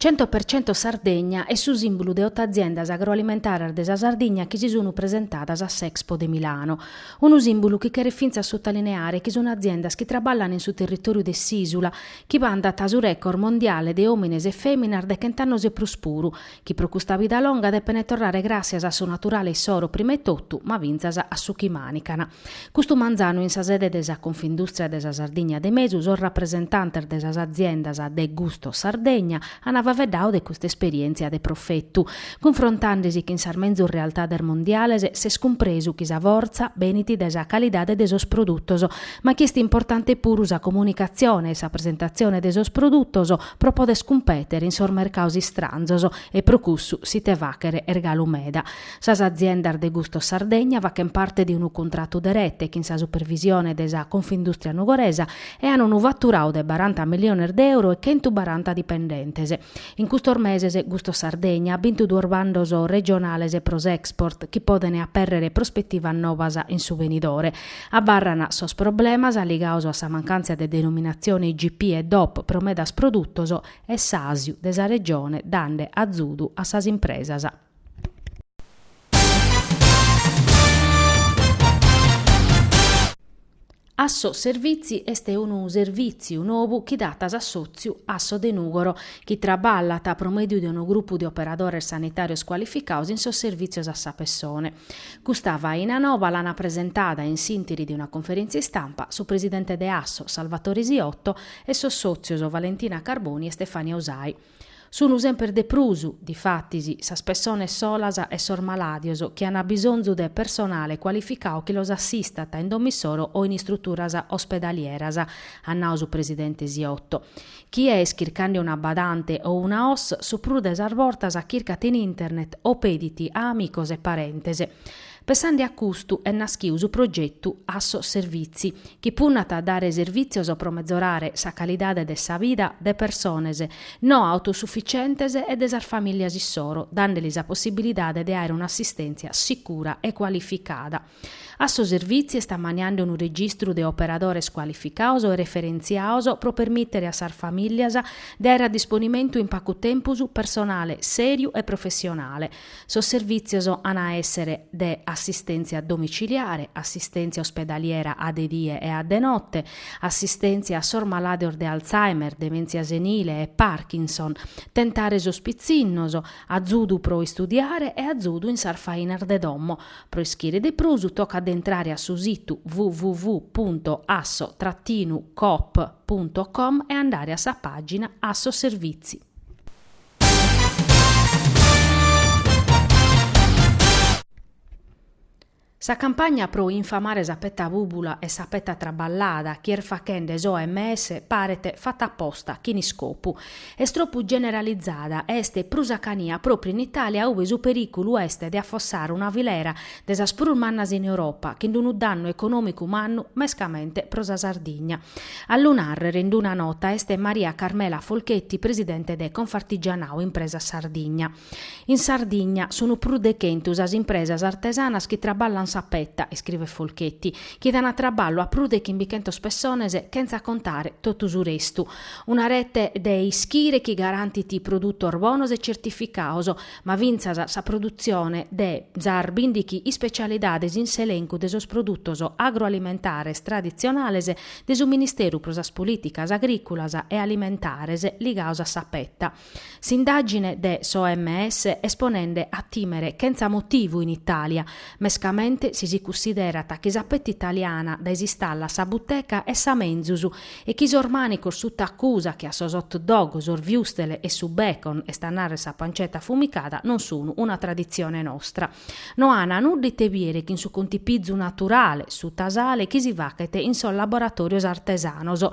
Cento per cento Sardegna est su sìmbulu de oto aziendas agroalimentaras de sa Sardigna chi si sunt presentadas a s'Expo de Milano. Unu sìmbulu chi cheret fintzas sutalineare chi sunt aziendas chi traballant in su territòriu de s'ìsula, chi bantat su record mondiale de òmines e fèminas de chent'annos e prus puru, chi pro custa vida longa depent torrare gràssias a su naturale issoro prima 'e totu, ma fintzas a su chi mànican. Custu manzanu in sa sede de sa Confindustria de sa Sardigna de Mesu sos rapresentantes de sas aziendas de Gusto Sardegna an faveddadu de custa esperièntzia de profetu, cunfrontande si chin sas menzus realtades mondiales, s'est cumpresu chi sa fortza benit de sa calidade de sos produtos, ma chi est importante puru sa comunicatzione e sa presentatzione de sos produtos pro poder cumpètere in sos mercados istranzos e pro cussu s'ite fàchere est galu meda. Sas aziendas de Gusto Sardegna fachent parte de unu cuntratu de rete chin sa supervisione de sa Confindustria Nugoresa e an unu faturadu de baranta milliones de euro e chentu baranta dipendentes. In custos meses Gusto Sardegna at bintu duos bandos regionales pro s'export chi podent apèrrere prospetivas novas in su venidore. Abarran sos problemas ligados a sa mancantza de denominatzione IGP e DOP pro medas produtos e s'àsiu de sa Regione dande azudu a sas impresas. Asso Servizi est unu servìtziu nou chi dat s'assòtziu Asso de Nùgoro, chi traballat pro mèdiu de unu grupu de operadores sanitàrios cualificados in sos servìtzios a sa pessone. Custa faina nova l'an presentada in s'ìntiri de una conferèntzia istampa su presidente de Asso, Salvatore Siotto, e sos sòtzios Valentina Carboni e Stefania Usai. Sunu semper de prus, difatis, sas pessones solas e sos malàdios chi an bisonzu de personale cualificadu chi los assistat in domissoro o in istruturas ospedalieras, at nadu su presidente Siotto. Chie est chircande una badante o una OSS, su prus de sas bortas chircat in internet o pedit a amicos e parentes. Pensande a custu est naschiu su progetu Asso Servizi, chi punnat a dare servìtzios pro metzorare sa calidade de sa vida de persones no autosufficientes e de sas famìlias issoro, dande lis sa possibilidade de àere un'assistèntzia sicura e cualificada. Asso Servizi est ammaniande unu registru de operadores cualificados e referentziados pro permìtere a sas famìlias de àere a disponimentu in pacu tempus personale sèriu e professionale, Sos servìtzios an a èssere de assistèntzia domiciliare, assistèntzia ospedaliera a de die e a de note, assistèntzia a sos malàidos de Alzheimer, demèntzia senile e Parkinson, tentare sos pitzinnos, azudu pro istudiare e azudu in sas fainas de domo. Pro ischire de prus tocat de intrare a su situ www punto asso trattinu coop punto com e andare a sa pàgina Asso Servìtzi. Sa campagna pro infamare sa peta bùbula e sa peta traballada chi est faghende s'OMS paret fata a posta, chin iscopu. Est tropu generalizada e est prus a cania pròpriu in Itàlia ue su perìculu est de afossare una filera de sas prus mannas in Europa, chin unu dannu econòmicu mannu mescamente pro sa Sardigna. A lu nàrrere in d-una nota est Maria Carmela Folchetti, presidente de Confartigianato Impresas Sardigna. In Sardigna sunt prus de chentu sas impresas artesanas chi traballant sa peta, iscriet Folchetti, chi dan traballu a prus de chimbichentas pessones chentza contare totu su restu. Una rete de ischire chi garantit produtos bonos e certificados, ma fintzas sa produtzione de sas bìndighi ispecialidades in s'elencu de sos produtos agroalimentares traditzionales de su Ministeru pro sas Polìticas Agrìculas e Alimentares ligados a sa peta. S'indàgine de s'OMS est ponende a tìmere chentza motivu in Itàlia, mescamente si si cussiderat chi sa peta italiana dae s'istalla a sa buteca est sa menzus e chi sos mànicos sutta acusa che a sos hot dog, sos wurstel e su bacon, est a narrer sa pancetta affumicada, non sunu una traditzione nostra. No ana nudda ite biere chin su contipizu naturale, su tasale, chi si fachet in sos laboratorios artesanos.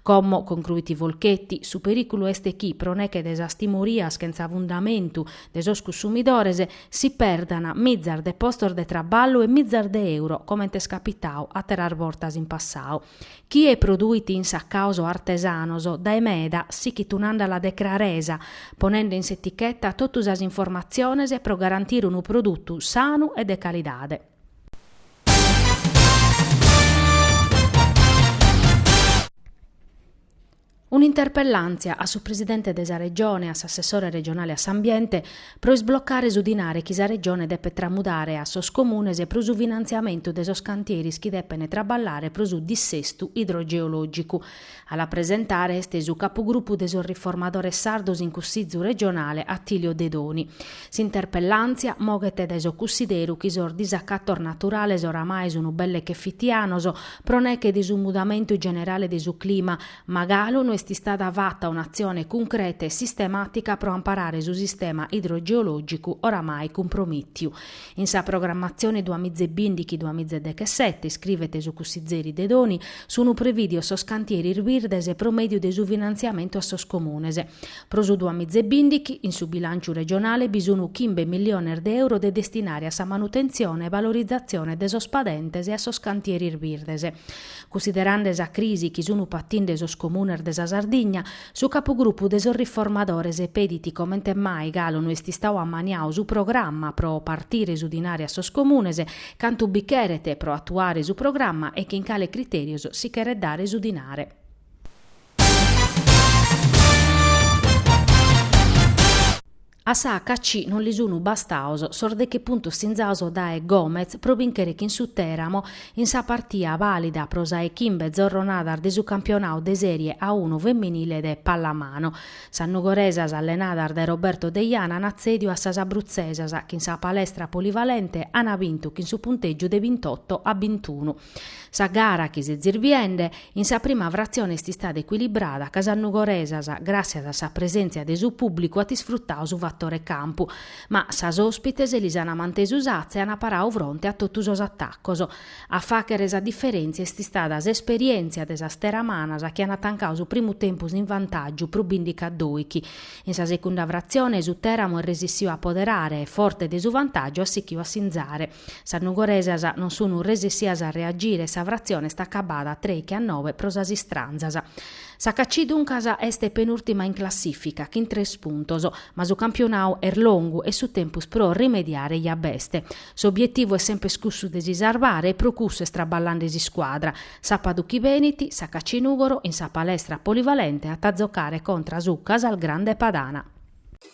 Como, concruit Folchetti, su periculu est chi, pro neche de sas timorias chentza fundamentu de sos cussumidores, si perdan mizas de postos de traballu e mizas de euro comente est capitadu ateras bortas in passadu. chie produit in sartàos artesanos dae meda sichit un'àndala de craresa, ponende in s'eticheta totu sas informatziones pro garantire unu produtu sanu e de calidade. Un'interpellàntzia a su Presidente de sa Regione e a s'Assessore regionale a s'Ambiente pro isblocare su dinare chi sa Regione depet tramudare a sos Comunes pro su finantziamentu de sos cantieris chi depent traballare pro su dissestu idrogeològicu. A la presentare est su Capugrupu de sos Riformadores Sardos in Cussizu regionale Attilio Dedoni. S'interpellàntzia moghet dae su cussideru chi sos disacatos naturales oramai sun belle che fitianos pro neche de su mudamentu generale de su clima, ma galu no est istada fata un'atzione cuncreta e sistemàtica pro amparare su sistema idrogeològicu oramai cumpromìtiu. In sa programmatzione duamiza e bìndighi-duamiza e dechesete, iscrivet su cussizeri Dedoni, sun prevìdios sos cantieris birdes pro mèdiu de su finantziamentu a sos comunes. Pro su duamizebìndighi, in su bilànciu regionale bi sunt chimbe milliones de euro de destinare a sa manutentzione e valorizatzione de sos padentes e a sos cantieris birdes. Cussiderande sa crisi chi sunt patinde sos comunes de sa Sardigna, su capugrupu de sos riformadores pedit comente mai galu no est istadu ammaniadu su programma pro partire su dinare a sos comunes, cantu bi cheret pro atuare su programma e chin cale criterios si cheret dare su dinare. A sa HC non li sun bastados sos deche puntos sinzados dae Gomez pro bìnchere chin su Teramo in sa partia bàlida pro sa 'e chimbe zorronadas de su campionadu de Sèrie A unu feminile de pallamano. Sas nugoresas allenadas dae Roberto Deiana an atzèdiu a sas abrutzesas chi in sa palestra polivalente an bintu chin su puntègiu de bintotto a bintunu. Sa gara chi s'est zirbiende in sa prima fratzione est istada ecuilibrada ca sas nugoresas, gràssias a sa presèntzia de su pùblicu at isfrutadu su fatore campu, ma sas òspites lis ant mantesu s'atza e ant paradu fronte a totu sos atacos. A fàghere sa diferèntzia est istada s'esperièntzia de sas teramanas chi ant tancadu su primu tempus in vantàgiu pro bìndichi a dòichi. In sa segunda fratzione, su Teramo est resissiu a apoderare e, forte de su vantàgiu, at sichiu a sinzare. Sas nugoresas non sun resessias a reagire e sa fratzione est acabada trèichi a nobe pro sas istranzas. Sa HC duncas est penùrtima in classìfica chin tres puntos, ma su campionadu est longu e su tempus pro rimediare ja b'est. S'obietivu est sempres cussu de si sarvare e pro cussu est traballande s'iscuadra. Sàpadu chi benit, sa HC Nùgoro in sa palestra polivalente at a zocare contra su Casalgrande Padana.